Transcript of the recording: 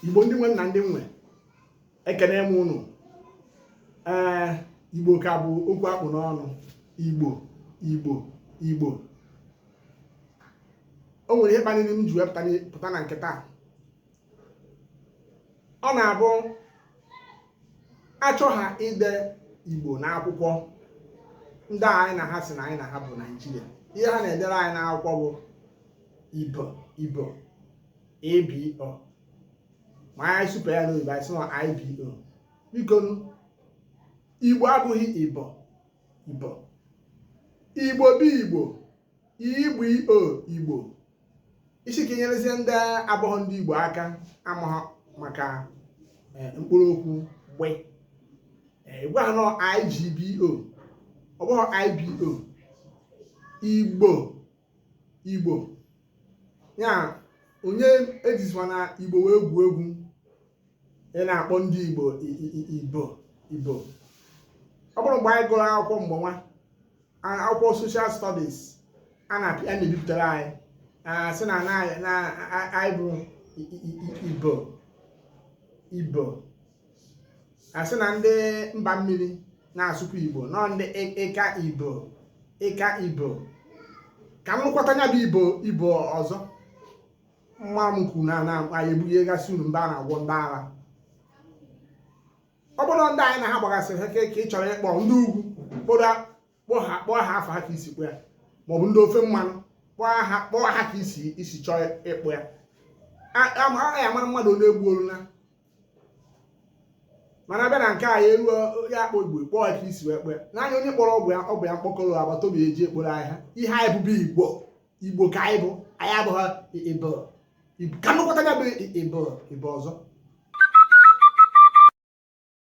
igbo ndị nwe m na ndị m nwe ekene m unu ee eh, igbo ka bụ okwu a kpụ n'ọnụ igbo igbo igbo o nwere ihe kpaliri m ji wee pụta na nke taa ọ na-abụ achọ ha ide igbo n'akwụkwọ ndị anyị na ha sị na anyị na ha bụ naijiria ihe ha na-edere anyị n'akwụkwọ bụ ibo ibo IBO ma anyị supe ya n'oyibo anyị sị na IBO biko Igbo abụghị Ibo Ibo Igbo bụ Igbo Igbo Igbo Igbo ị sị ka e nyerezie ndị abụghị ndị Igbo aka amaghị maka eh, mkpụrụ okwu gbe eh, gwa ha na ọ IGBO ọ bụghị IBO Igbo igbo ya onye ejizikwana igbo wee gwuo egwu ị na-akpọ ndị igbo ibo ibo ọ bụrụ mgbe anyị gụrụ akwụkwọ mgbe nwa akwụkwọ social studies a na a na-ebipụtara anyị sị na anyị bụ ibo ibo a sị na ndị mba mmiri na-asụkwa igbo na ọ ndị ịka ibo ịka ibo ka m nụkwata nya bụ ibo ibo ọzọ mma m kwuru na na anyị ebugagasị unu mba a na-agwọ ndị ara ọ bụrụ ndị anyị na ha gbagasịrị ha ka ị chọrọ ịkpọ ndị ugwu kpọọ kpọọ ha kpọọ ha afa ha ka i si kpọ ya maọbụ ndị ofe mmanụ kpọọ ha kpọọ ha ka i si i si chọọ ịkpọ ya amaghị amara mmadụ onye egbuolu na mana a bịa na nke a ya eruo ya a kpọ igbo kpọọ ya ka e si wee kpọ ya naanị onye kpọrọ ọba ya ọba ya mkpọkọrọ agbata obi e ji ekporo ahịhịa ihe anyị bụ bụ igbo igbo ka anyị bụ anyị abụghị ibo ka m nụkwata ya bụ ibo ibo ọzọ